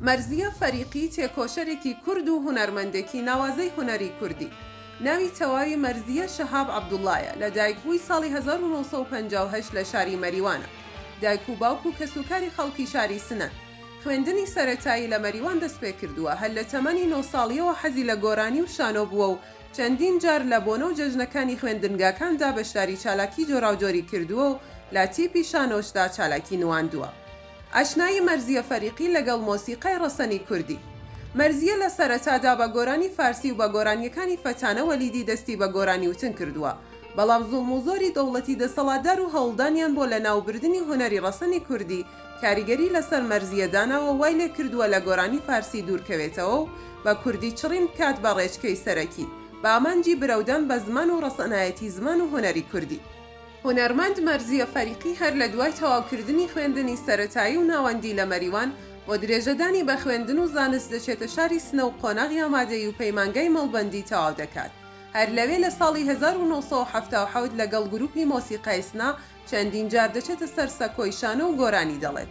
مەرزیە فەریقی تێکۆشەرێکی کورد و هونەرمەندێکی ناوازەی هونەری کوردی ناوی تەواوی مەرزیە شەهاب عەبدوڵڵایە لە دایکبووی ساڵی هەزار و نۆ سەد و پەنجا و هەشت لە شاری مەریوانە دایک و باوک و کەسوکاری خەڵکی شاری سنەن خوێندنی سەرەتایی لە مەریوان دەستپێکردووە هەر لە تەمەنی نۆ ساڵیەوە حەزی لە گۆرانی و شانۆ بووە و چەندین جار لە بۆنە و جەژنەکانی خوێندنگاکاندا بەشداری چالاکی جۆراوجۆری کردووە و لە تیپی شانۆشدا چالاکی نواندووە. ئاشنایی مەرزیە فەریقی لەگەڵ مۆسیقای ڕەسەنی کوردی. مەرزیە لە سەرەتادا بە گۆرانی فارسی و بە گۆرانیەکانی فەتانە وەلیدی دەستی بە گۆرانی وتن کردووە، بەڵام زوڵم و زۆری دەوڵەتی دەسەڵاتدار و هەوڵدانیان بۆ لە ناو بردنی هونەری ڕەسەنی کوردی کاریگەری لەسەر مەرزیە داناوە وای لێ کردووە لە گۆرانی فارسی دوور کەوێتەوە و بە کوردی چڕین بکات بە ڕێچکەی سەرەکی بە ئامانجی برەودان بە زمان و ڕەسەنایەتی زمان و هونەری کوردی. هونەرمەند مەرزیە فەریقی هەر لە دوای تەواوکردنی خوێندنی سەرەتایی و ناوەندی لە مەریوان، بۆ درێژەدانی بە خوێندن و زانست دەچێتە شاری سنە و قۆناغی ئامادەیی و پەیمانگای مەڵبەندی تەواو دەکات. هەر لەوێ لە ساڵی هەزار و نۆ سەد و حەفتا و حەوت لەگەڵ گروپی مۆسیقای سنە چەندین جار دەچێتە سەر سەکۆی شانۆ و گۆرانی دەڵێت.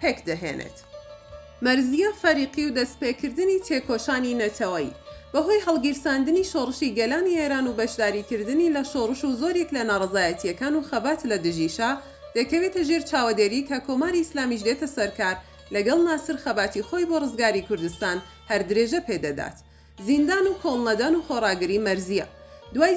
پێکدەهێنێت. مەرزییە فەریقی و دەستپێکردنی تێکۆشانی نەتەوەیی، بەهۆی هەڵگیرساندنی شۆڕشی گەلانی ئێران و بەشداریکردنی لە شۆڕش و زۆریک لە ناڕەزایەتییەکان و خەبات لە دژی شا، دەکەوێتە ژێر چاوەدێری کە کۆماری ئیسلامیش دێتە سەرکار، لەگەڵ ناسر خەباتی خۆی بۆ ڕزگاری کوردستان هەر درێژە پێدەدات. زیندان و کۆڵنەدان و خۆڕاگری مەرزییە دوای.